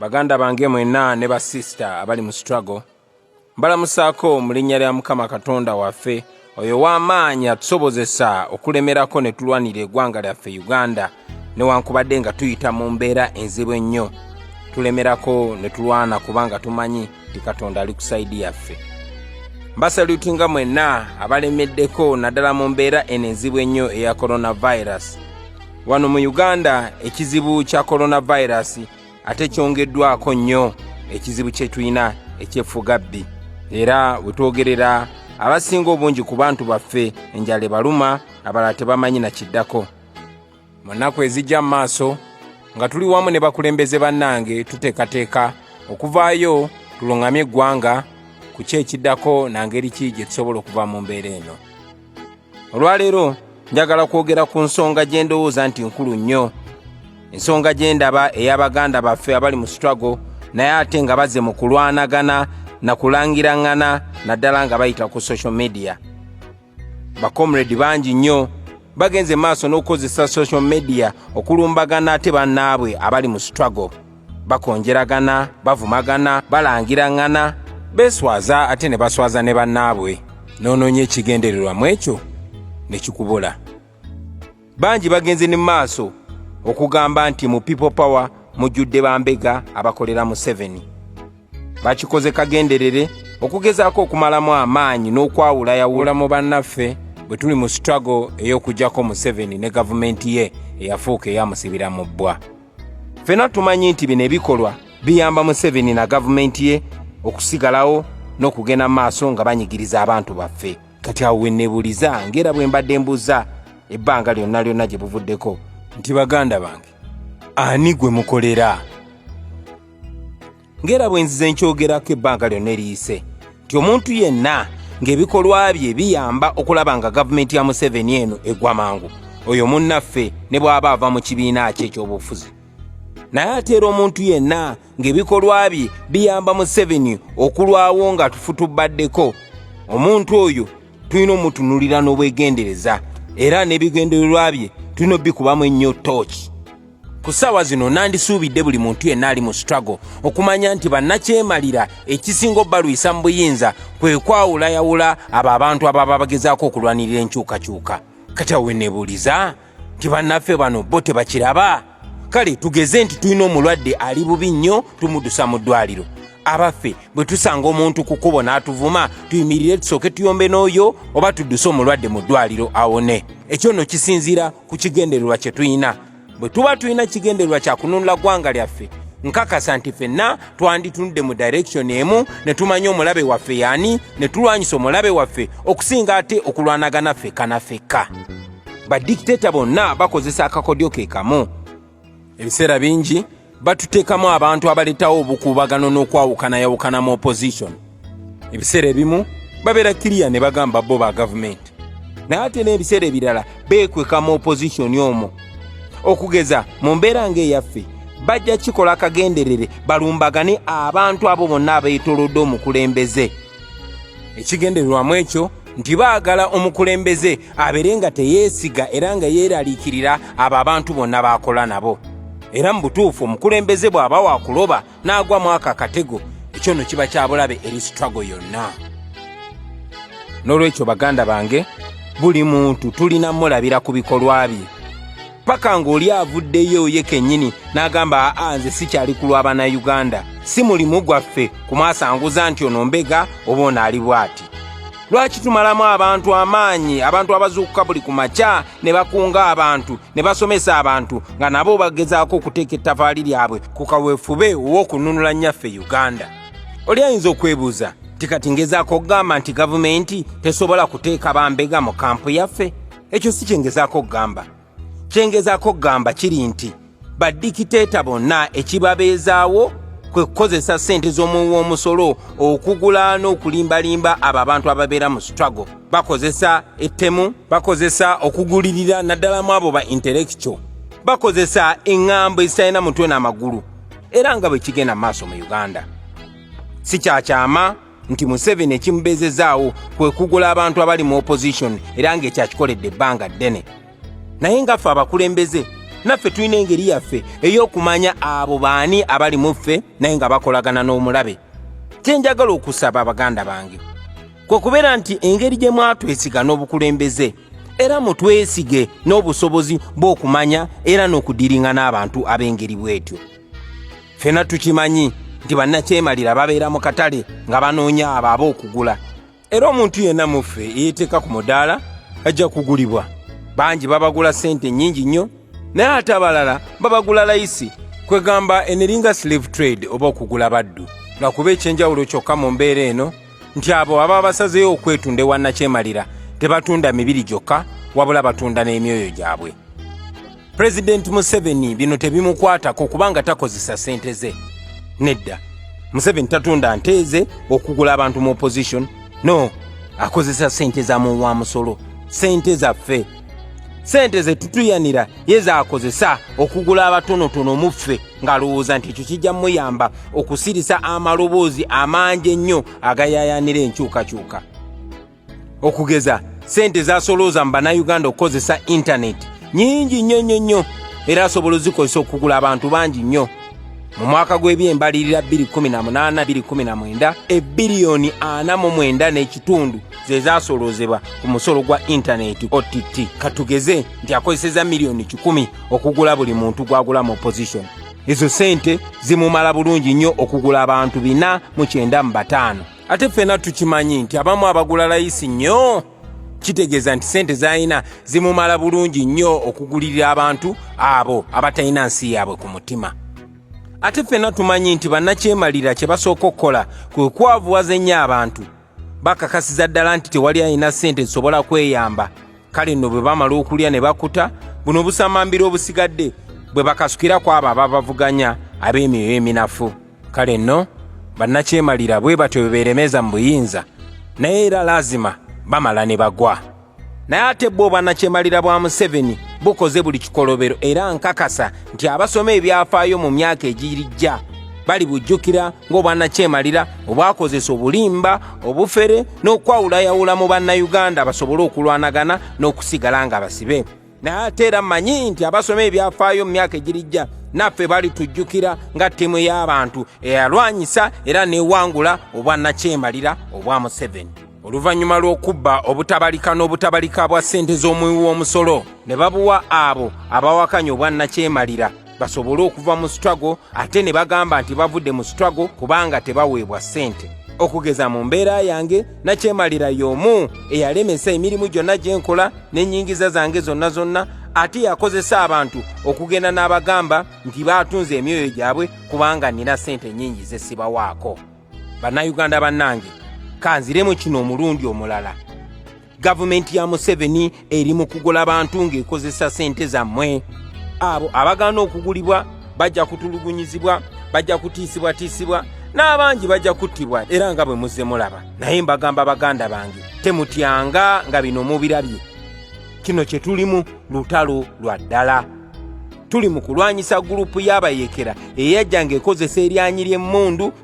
baganda bange mwena ne basista abali mu struggle mbalamusaako mu linnya lya mukama katonda waffe oyo w'amaanyi atusobozesa okulemerako ne tulwanira egwanga lyaffe uganda newankubadde nga tuyita mu mbeera enzibu ennyo tulemerako ne tulwana kubanga tumanyi nti katonda ali ku saidi yaffe mbasalutinga mwenna abalemeddeko naddala mu mbeera eno enzibu ennyo eya coronavirus wano mu uganda ekizibu kya coronavirus ate kyongeddwako nnyo ekizibu kye tulina ekyeffugabbi era we twogerera abasinga obungi ku bantu baffe enjala ebaluma abalala tebamanyi na kiddako mu nnaku ezijja mu maaso nga tuli wamu ne bakulembeze bannange tuteekateeka okuvaayo tulungamye eggwanga ku ki ekiddako na ngeri ki gye tusobola okuva mu mbeera eno olwaleero njagala kwogera ku nsonga gye ndowooza nti nkulu nnyo ensonga gye ndaba ey'abaganda baffe abali mu struggle naye ate nga baze mu kulwanagana na kulangiraŋŋana naddala nga bayita ku social media bakomredi bangi nnyo bagenze maaso n'okukozesa social media okulumbagana ate bannaabwe abali mu struggle bakonjeragana bavumagana balangiraŋŋana beeswaza ate ne baswaza ne bannaabwe n'onoonya ekigendererwa mu ekyo ne kikubula bangi bagenze ne maaso okugamba nti mu people power mujjudde bambega abakolera museveni bakikoze kagenderere okugezaako okumalamu amaanyi n'okwawula yawula mu bannaffe bwe tuli mu struggle ey'okugyako museveni ne gavumenti ye eyafuuka eyamusibira mu bbwa ffena tumanyi nti bino ebikolwa biyamba museveni na gavumenti ye okusigalawo n'okugenda mu maaso nga banyigiriza abantu baffe kati awo wenebuliza ngaera bwe mbadde mbuza ebbanga lyonna lyonna gye buvuddeko nti baganda bange ani gwe mukolera ngaera bwe nzize nkyogerako ebbanga lyonna eriyise nti omuntu yenna ng'ebikolwa bye biyamba okulaba nga gavumenti ya museveni eno egwa mangu oyo munnaffe ne bw'aba ava mu kibiina kye eky'obufuzi naye ateera omuntu yenna ng'ebikolwa bye biyamba museveni okulwawo nga tufutubaddeko omuntu oyo tulina omutunulira n'obwegendereza era n'ebigendererwa bye tulina obikubamu ennyo tooki ku ssaawa zino nandisuubidde buli muntu yenna ali mu struggle okumanya nti bannakyemalira ekisinga obalwisa mu buyinza kwe kwawulayawula abo abantu ababa bagezaako okulwanirira enkyukakyuka kati awo wenebuuliza nti bannaffe bano bo tebakiraba kale tugeze nti tulina omulwadde ali bubi nnyo tumudusa mu ddwaliro abaffe bwe tusanga omuntu ku kkubo n'atuvuma tuyimirire tusooke tuyombe n'oyo oba tudduse omulwadde mu ddwaliro awone ekyo no kisinziira ku kigendererwa kye tulina bwe tuba tulina kigendererwa kya kununula ggwanga lyaffe nkakasa nti fenna twanditunudde mu direkisoni emu ne tumanya omulabe waffe yaani ne tulwanyisa omulabe waffe okusinga ate okulwanagana fekka na fekka badikiteeta bonna bakozesa akakodyo ke kamu ebiseera bingi batuteekamu abantu abaleetawo obukuubagano n'okwawukanayawukana mu opposition ebiseera ebimu babeera kiriya ne bagamba bo ba gavumenti naye ate n'ebiseera ebirala beekweka mu opposition omwo okugeza mu mbeera ng'eyaffe bajja kikola akagenderere balumbagane abantu abo bonna abeetolodde omukulembeze ekigendererwamu ekyo nti baagala omukulembeze abeere nga teyeesiga era nga yeeraliikirira abo abantu bonna baakola nabo era mu butuufu omukulembeze bw'aba waakuloba n'agwa mu ako akatego ekyo nno kiba kya bulabe eri sitwago yonna n'olwekyo baganda bange buli muntu tulina mulabira ku bikolwa bye paka ng'oli avuddeyo ye kennyini n'agamba aa nze sikyali ku lwa bannayuganda si mulimu gwaffe kumwasanguza nti ono mbega oba ono ali bw'ati lwaki tumalamu abantu amaanyi abantu abazuukuka buli ku makya ne bakunga abantu ne basomesa abantu nga nabo bagezaako okuteeka ettafaali lyabwe ku kaweefube ow'okununula nnyaffe uganda oli ayinza okwebuuza nti kati ngezaako okugamba nti gavumenti tesobola kuteeka bambega mu kampu yaffe ekyo si kyengezaako okugamba kyengezaako okugamba kiri nti badikiteeta bonna ekibabeezaawo kwe kukozesa ssente z'omuwi w'omusolo okugula n'okulimbalimba abo abantu ababeera mu struggle bakozesa ettemu bakozesa okugulirira naddala mu abo ba intellectual bakozesa eŋŋambo ezitalina mutwe n'amagulu era nga bwe kigenda mu maaso mu uganda si kyakyama nti museveni ekimubezezaawo kwe kugula abantu abali mu opposition era ng'ekyakikoledde ebbanga ddene naye nga ffe abakulembeze naffe tulina engeri yaffe ey'okumanya abo baani abali mu ffe naye nga bakolagana n'omulabe kye njagala okusaba abaganda bange kwe kubeera nti engeri gye mwatwesiga n'obukulembeze era mutwesige n'obusobozi bw'okumanya era n'okudiringa n'abantu ab'engeri bw'etyo fena tukimanyi nti bannakyemalira babeera mu katale nga banoonya abo ab'okugula era omuntu yenna muffe eyeteeka ku mudaala ajja kugulibwa bangi babagula sente nnyingi nnyo naye ate abalala babagula layisi kwegamba eneringa slave trade oba okugula baddu nga kuba ekyenjawulo kyokka mu mbeera eno nti abo aba basazeeyo okwetunda ewa nnakyemalira tebatunda mibiri gyokka wabula batunda n'emyoyo gyabwe pulezidenti museveni bino tebimukwatako kubanga takozesa sente ze nedda museveni tatunda nteeze okugula abantu mu opposition no akozesa sente za muwa musolo sente zaffe sente zetutuyanira ye zakozesa okugula abatonotono muffe ng'alowooza nti ekyo kijja muyamba okusirisa amaloboozi amangi ennyo agayayanira enkyukakyuka okugeza sente zasolooza mu bannayuganda okukozesa intaneti nyingi nnyo nnyo nnyo era asobola ozikozesa okugula abantu bangi nnyo mu mwaka gw'ebyembalirira 21829 ebiriyoni 49 n'ekitundu ze zaasoloozebwa ku musolo gwa intaneti ott katugeze nti akozeseza miliyoni 1 okugula buli muntu gwagula mu opposition ezo sente zimumala bulungi nnyo okugula abantu 4 mu 9 mu 5 ate ffena tukimanyi nti abamu abagula layisi nnyo kitegeeza nti sente zalina zimumala bulungi nnyo okugulirira abantu abo abatalina nsi yaabwe ku mutima ate ffena tumanyi nti bannakyemalira kye basooka okukola kwe kwavuwaza ennyo abantu bakakasiza ddala nti tewali alina sente zisobola kweyamba kale nno bwe bamala okulya ne bakuta buno obusamambiro obusigadde bwe bakasukira ku abo ababavuganya ab'emyoyo eminafu kale nno bannakyemalira bwe batyo bwe beeremeza mu buyinza naye era laazima bamala ne bagwa naye ate bwo bannakyemalira bwa museveni bukoze buli kikolobero era nkakasa nti abasoma ebyafaayo mu myaka egirijja bali bujjukira ng'obwannakyemalira obwakozesa obulimba obufere n'okwawulayawula mu bannayuganda basobole okulwanagana n'okusigala nga basibe naye ate era manyi nti abasoma ebyafaayo mu myaka egirijja naffe balitujjukira nga ttiimu y'abantu eyalwanyisa era newangula obwa nakyemalira obwa museveni oluvannyuma lw'okubba obutabalika n'obutabalika bwa ssente z'omuwi w'omusolo ne babuwa abo abawakanya obwa nakyemalira basobole okuva mu struggle ate ne bagamba nti bavudde mu struggle kubanga tebaweebwa ssente okugeza mu mbeera yange nakyemalira y'omu eyalemesa emirimu gyonna gye nkola n'ennyingiza zange zonna zonna ate yakozesa abantu okugenda n'abagamba nti baatunze emyoyo gyabwe kubanga nina ssente nnyingi ze sibawaako bannayuganda bannange kanziremu kino omulundi omulala gavumenti ya museveni eri mu kugula bantu ng'ekozesa sente zammwe abo abagaana okugulibwa bajja kutulugunyizibwa bajja kutiisibwatiisibwa n'abangi bajja kuttibwa era nga bwe muzze mulaba naye mbagamba baganda bange temutyanga nga bino mubirabye kino kye tulimu lutalo lwa ddala tuli mu kulwanyisa gurupu y'abayekera eyajja ng'ekozesa eryanyi ly'emmundu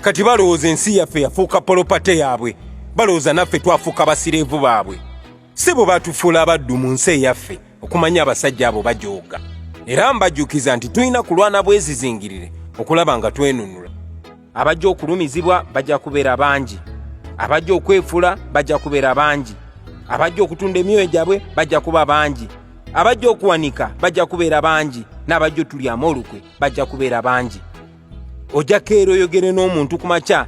kati balowooza ensi yaffe yafuuka polopate yaabwe balowooza naffe twafuuka basireevu baabwe si bwe batufuula abaddu mu nsi eyaffe okumanya abasajja abo bajooga era mbajjukiza nti tulina kulwana bwezizingirire okulaba nga twenunula abajja okulumizibwa bajja kubeera bangi abajja okwefula bajja kubeera bangi abajja okutunda emyoyo gyabwe bajja kuba bangi abajja okuwanika bajja kubeera bangi n'abajja otulyamu olukwe bajja kubeera bangi ojja keera oyogere n'omuntu ku makya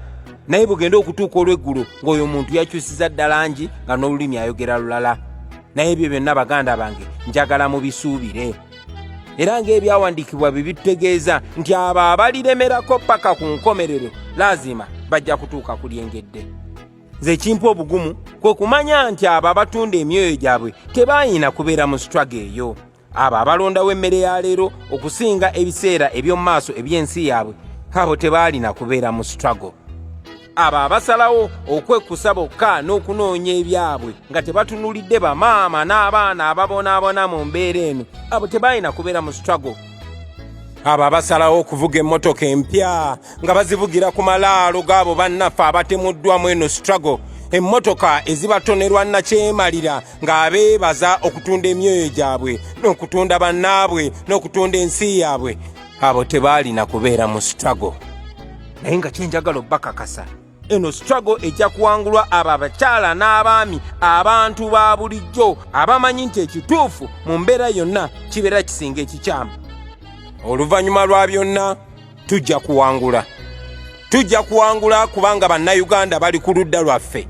naye bugenda okutuuka olw'eggulu ng'oyo omuntu yakyusiza ddala ngi nga n'olulimi ayogera lulala naye ebyo byonna baganda bange njagala mubisuubire era ng'ebyawandiikibwa bye bitutegeeza nti abo abaliremerako paka ku nkomerero laazima bajja kutuuka ku lyengedde nze ekimpa obugumu kwe kumanya nti abo abatunda emyoyo gyabwe tebaayina kubeera mu sitwago eyo abo abalondawo emmere ya leero okusinga ebiseera eby'omu maaso eby'ensi yaabwe abo tebaalina kubeera mu struggle abo abasalawo okwekkusa bokka n'okunoonya ebyabwe nga tebatunulidde bamaama n'abaana ababonaabona mu mbeera eno abo tebaalina kubeera mu struggle abo abasalawo okuvuga emmotoka empya nga bazivugira ku malaalo gaabo bannaffe abatemuddwamu eno struggle emmotoka ezibatonerwa nakyemalira ng'abeebaza okutunda emyoyo gyabwe n'okutunda bannaabwe n'okutunda ensi yaabwe abo tebaalina kubeera mu struggle naye nga kyenjagala obbakakasa eno struggle ejja kuwangulwa abo abakyala n'abaami abantu ba bulijjo abamanyi nti ekituufu mu mbeera yonna kibeera kisinga ekikyamu oluvannyuma lwa byonna tujja kuwangula tujja kuwangula kubanga bannayuganda bali ku ludda lwaffe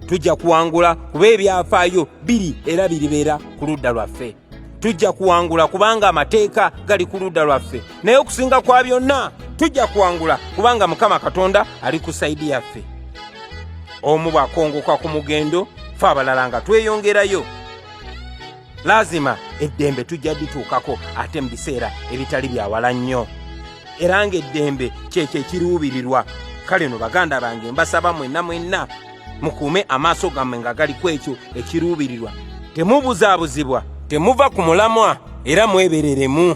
tujja kuwangula kuba ebyafaayo biri era biribeera ku ludda lwaffe tujja kuwangula kubanga amateeka gali ku ludda lwaffe naye okusinga kwa byonna tujja kuwangula kubanga mukama katonda ali ku saidi yaffe omu bwakongoka ku mugendo fe abalala nga tweyongerayo laazima eddembe tujja lituukako ate mu biseera ebitali byawala nnyo era ng'eddembe kyekyo ekiruubirirwa kale no baganda bange mbasaba mwenna mwenna mukuume amaaso gammwe nga gali ku ekyo ekiruubirirwa temubuzaabuzibwa temuva ku mulamwa era mwebereremu